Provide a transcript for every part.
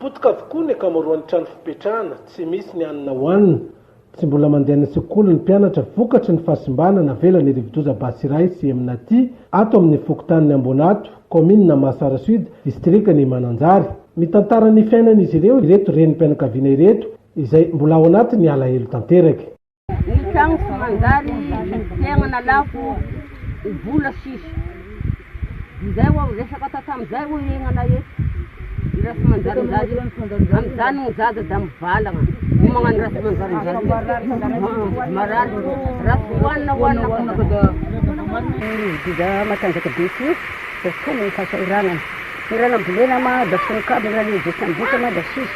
Potika avokoa ny ankamaroan'ny trano fipetrahana, tsy misy ny hanina hohanina, tsy mbola mandeha any an-tsekoly ny mpianatra vokatry ny fahasimbana navelan'ny rivodoza Basiray sy Eminati ato amin'ny fokontanin'i Amboanato, kaominina Mahasara Sud, distrikan'i Mananjary. Mitantara ny fiainan'izy ireo ireto renim-pianakaviana ireto izay mbola ao anatin'ny alahelo tanteraka. Ny tragno tsy manjary fiainana lafo vola sisa izay oa resaka tatamzay oa iainana eto raha tsy manjary zany amzany ny zaza da mivalagna no magnano raha tsy manjary zany marary raha tsy hoanina hoanina fona fa da dia matanjaka be ty da tena ny fahasahiranana ny raha nambolena ma da fonon-kabony raha lehibe tsy ambotsa ma da sisa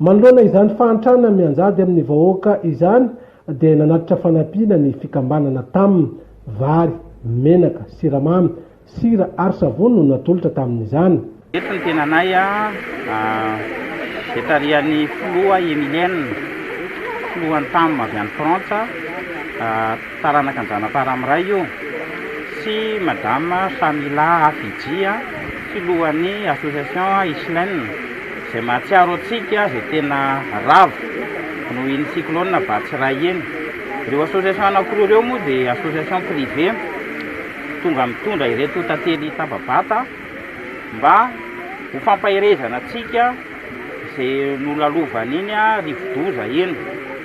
Manoloana izany fahantrana mianjady amin'ny vahoaka izany dia nanatitra fanampiana ny fikambanana taminy. Vary, menaka, siramamy, sira ary savony no natolotra tamin'izany. Eto ny tenanay dia tarihan'ny filoha Emilienne, filohan'ny tam avy any Frantsa, taranaka an-dRanaparamiray io, sy Madame Shamila Hafidji, filohan'ny association Islin. Izay mahatsiaro antsika izay tena ravo noho iny cyclone Batsirai iny. Ireo association anankiroa ireo moa dia association privée tonga mitondra ireto tantely taba-bata mba ho fampaherezana antsika izay nolalovan'iny rivo-doza iny.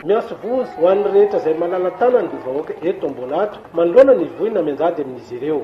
Miantso voa ho an'ny rehetra izay malala-tanana dia vahoaka eto Ambohilato manoloana ny voina mianjady amin'izy ireo.